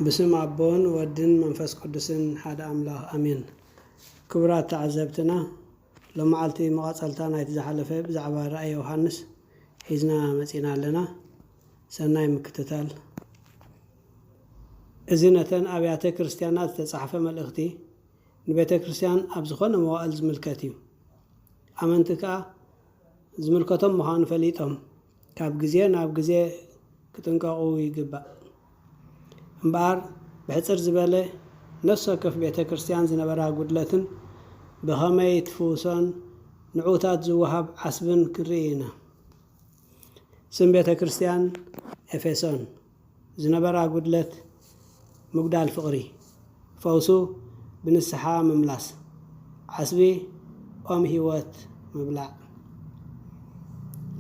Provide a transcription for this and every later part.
ብስም ኣቦን ወድን መንፈስ ቅዱስን ሓደ ኣምላኽ ኣሜን። ክቡራት ተዓዘብትና ሎማዓልቲ መቐጸልታ ናይቲ ዝሓለፈ ብዛዕባ ራእይ ዮውሃንስ ሒዝና መጺና ኣለና። ሰናይ ምክትታል። እዚ ነተን ኣብያተ ክርስትያናት ዝተጻሕፈ መልእኽቲ ንቤተ ክርስትያን ኣብ ዝኾነ መዋእል ዝምልከት እዩ። ኣመንቲ ከኣ ዝምልከቶም ምዃኑ ፈሊጦም ካብ ግዜ ናብ ግዜ ክጥንቀቑ ይግባእ እምበኣር ብሕጽር ዝበለ ነፍሲ ወከፍ ቤተ ክርስቲያን ዝነበራ ጉድለትን ብኸመይ ትፍውሶን ንዕዉታት ዝወሃብ ዓስብን ክንርኢ ኢና። ስም ቤተ ክርስቲያን ኤፌሶን። ዝነበራ ጉድለት ምጉዳል ፍቕሪ ፈውሱ ብንስሓ ምምላስ ዓስቢ ኦም ሕይወት ምብላዕ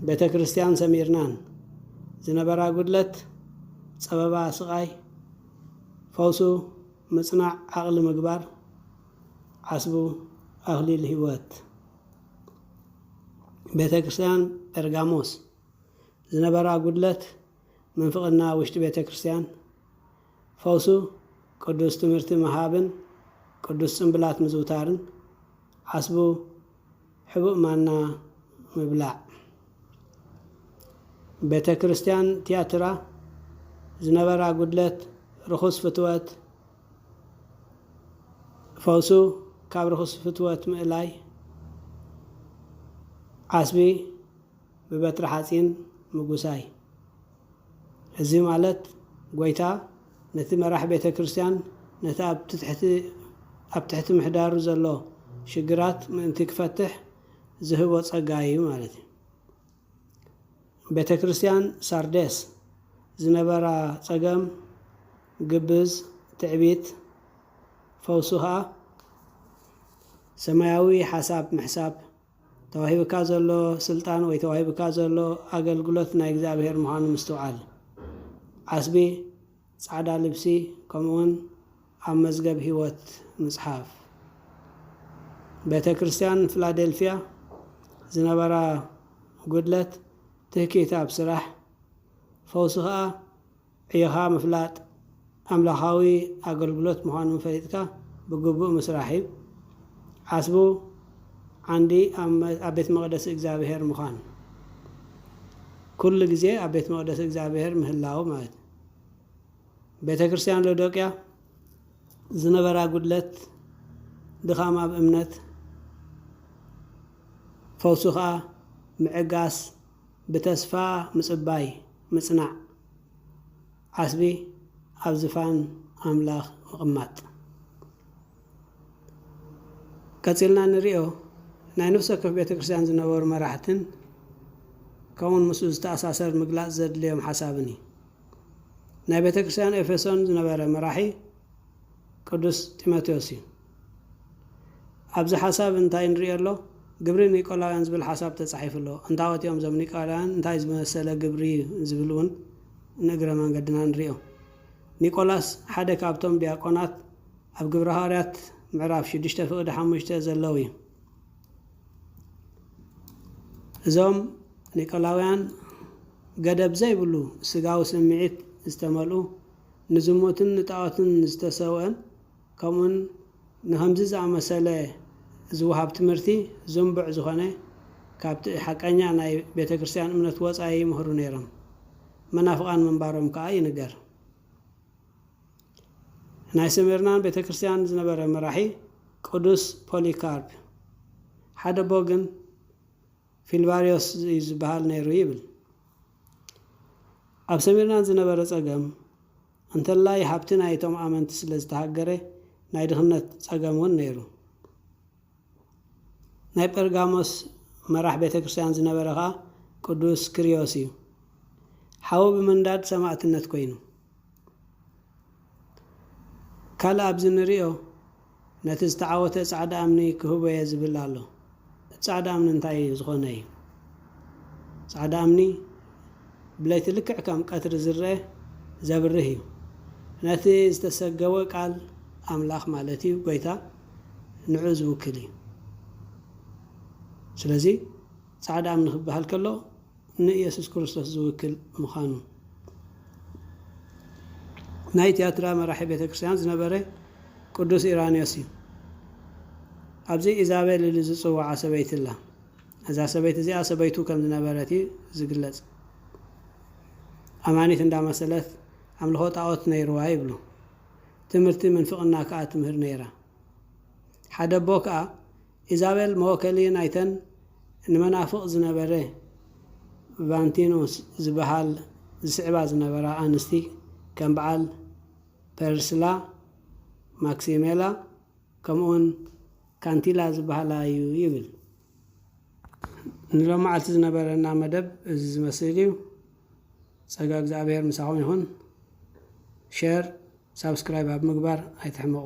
ቤተ ክርስቲያን ሰሚርናን ዝነበራ ጉድለት ጸበባ ስቓይ ፈውሱ ምጽናዕ ዓቕሊ ምግባር ዓስቡ ኣኽሊል ሕይወት ቤተ ክርስቲያን ጴርጋሞስ ዝነበራ ጉድለት ምንፍቕና ውሽጢ ቤተ ክርስቲያን ፈውሱ ቅዱስ ትምህርቲ ምሃብን ቅዱስ ጽምብላት ምዝውታርን ዓስቡ ሕቡእ ማና ምብላዕ ቤተ ክርስቲያን ትያትራ ዝነበራ ጉድለት ርኹስ ፍትወት ፈውሱ ካብ ርኹስ ፍትወት ምእላይ ዓስቢ ብበትሪ ሓጺን ምጉሳይ እዚ ማለት ጎይታ ነቲ መራሕ ቤተ ክርስቲያን ነቲ ኣብ ትሕቲ ኣብ ትሕቲ ምሕዳሩ ዘሎ ሽግራት ምእንቲ ክፈትሕ ዝህቦ ጸጋ እዩ ማለት እዩ። ቤተ ክርስቲያን ሳርዴስ ዝነበራ ጸገም ግብዝ ትዕቢት ፈውሱ ከኣ ሰማያዊ ሓሳብ ምሕሳብ፣ ተዋሂብካ ዘሎ ስልጣን ወይ ተዋሂብካ ዘሎ ኣገልግሎት ናይ እግዚኣብሔር ምዃኑ ምስትውዓል። ዓስቢ፣ ጻዕዳ ልብሲ፣ ከምኡውን ኣብ መዝገብ ህይወት ምጽሓፍ። ቤተ ክርስቲያን ፍላደልፊያ ዝነበራ ጉድለት ትህኪት ኣብ ስራሕ፣ ፈውሲ ከኣ ዕዮኻ ምፍላጥ ኣምላኻዊ ኣገልግሎት ምዃኑ ፈሊጥካ ብግቡእ ምስራሕ እዩ። ዓስቡ ዓንዲ ኣብ ቤት መቕደስ እግዚኣብሄር ምዃን፣ ኩሉ ግዜ ኣብ ቤት መቕደስ እግዚኣብሄር ምህላው ማለት እዩ። ቤተ ክርስቲያን ሎዶቅያ ዝነበራ ጉድለት ድኻም ኣብ እምነት፣ ፈውሱ ኸኣ ምዕጋስ፣ ብተስፋ ምጽባይ ምጽናዕ፣ ዓስቢ ኣብ ዝፋን ኣምላኽ ምቕማጥ። ቀጺልና እንርእዮ ናይ ነፍሲ ወከፍ ቤተ ክርስቲያን ዝነበሩ መራሕትን ከምኡውን ምስኡ ዝተኣሳሰር ምግላጽ ዘድልዮም ሓሳብን እዩ። ናይ ቤተ ክርስቲያን ኤፌሶን ዝነበረ መራሒ ቅዱስ ጢሞቴዎስ እዩ። ኣብዚ ሓሳብ እንታይ ንሪኦ ኣሎ? ግብሪ ኒቆላውያን ዝብል ሓሳብ ተጻሒፉ ኣሎ። እንታዎት እዮም እዞም ኒቆላውያን? እንታይ ዝመሰለ ግብሪ እዩ? ዝብል እውን ንእግረ መንገድና ንሪኦ። ኒቆላስ ሓደ ካብቶም ዲያቆናት ኣብ ግብሪ ሃዋርያት ምዕራፍ ሽዱሽተ ፍቕዲ ሓሙሽተ ዘለዉ እዩ። እዞም ኒቆላውያን ገደብ ዘይብሉ ስጋዊ ስምዒት ዝተመልኡ፣ ንዝሙትን ንጣዖትን ዝተሰውእን፣ ከምኡውን ንኸምዚ ዝኣመሰለ ዝወሃብ ትምህርቲ ዝንቡዕ ዝኾነ ካብቲ ሓቀኛ ናይ ቤተ ክርስቲያን እምነት ወጻኢ ይምህሩ ነይሮም። መናፍቓን ምንባሮም ከኣ ይንገር። ናይ ስሚርናን ቤተ ክርስቲያን ዝነበረ መራሒ ቅዱስ ፖሊካርፕ ሓደ ኣቦ ግን ፊልቫርዮስ እዩ ዝበሃል ነይሩ ይብል። ኣብ ሰሚርናን ዝነበረ ጸገም እንተላይ ሃብቲ ናይቶም ኣመንቲ ስለ ዝተሃገረ ናይ ድኽነት ጸገም ውን ነይሩ። ናይ ጴርጋሞስ መራሕ ቤተ ክርስቲያን ዝነበረ ኸኣ ቅዱስ ክርዮስ እዩ። ሓው ብምንዳድ ሰማእትነት ኮይኑ። ካልእ ኣብዚ ንርእዮ። ነቲ ዝተዓወተ ጻዕዳ እምኒ ክህቦ'የ ዝብል ኣሎ። እቲ ጻዕዳ እምኒ እንታይ እዩ ዝኾነ እዩ? ጻዕዳ እምኒ ብለይቲ ልክዕ ከም ቀትሪ ዝረኣ ዘብርህ እዩ። ነቲ ዝተሰገወ ቃል ኣምላኽ ማለት እዩ ጎይታ ንዑ ዝውክል እዩ። ስለዚ ጻዕዳ እምኒ ክበሃል ከሎ፣ ንኢየሱስ ክርስቶስ ዝውክል ምኻኑ። ናይ ትያትራ መራሒ ቤተ ክርስቲያን ዝነበረ ቅዱስ ኢራንዮስ እዩ። ኣብዚ ኢዛቤል ኢሉ ዝጽውዓ ሰበይቲ ኣላ። እዛ ሰበይቲ እዚኣ ሰበይቱ ከም ዝነበረት እዩ ዝግለጽ። ኣማኒት እንዳመሰለት ኣምልኾ ጣዖት ነይርዋ ይብሉ። ትምህርቲ ምንፍቕና ከኣ ትምህር ነይራ። ሓደ ኣቦ ከኣ ኢዛቤል መወከሊ ናይተን ንመናፍቕ ዝነበረ ቫንቲኖ ዝበሃል ዝስዕባ ዝነበራ ኣንስቲ ከም በዓል ፐርስላ፣ ማክሲሜላ ከምኡውን ካንቲላ ዝበሃላ እዩ ይብል። ንሎማዓልቲ ዝነበረና መደብ እዚ ዝመስል እዩ። ጸጋ እግዝኣብሄር ምሳኹም ይኹን። ሸር ሳብስክራይብ ኣብ ምግባር ኣይትሕመቑ።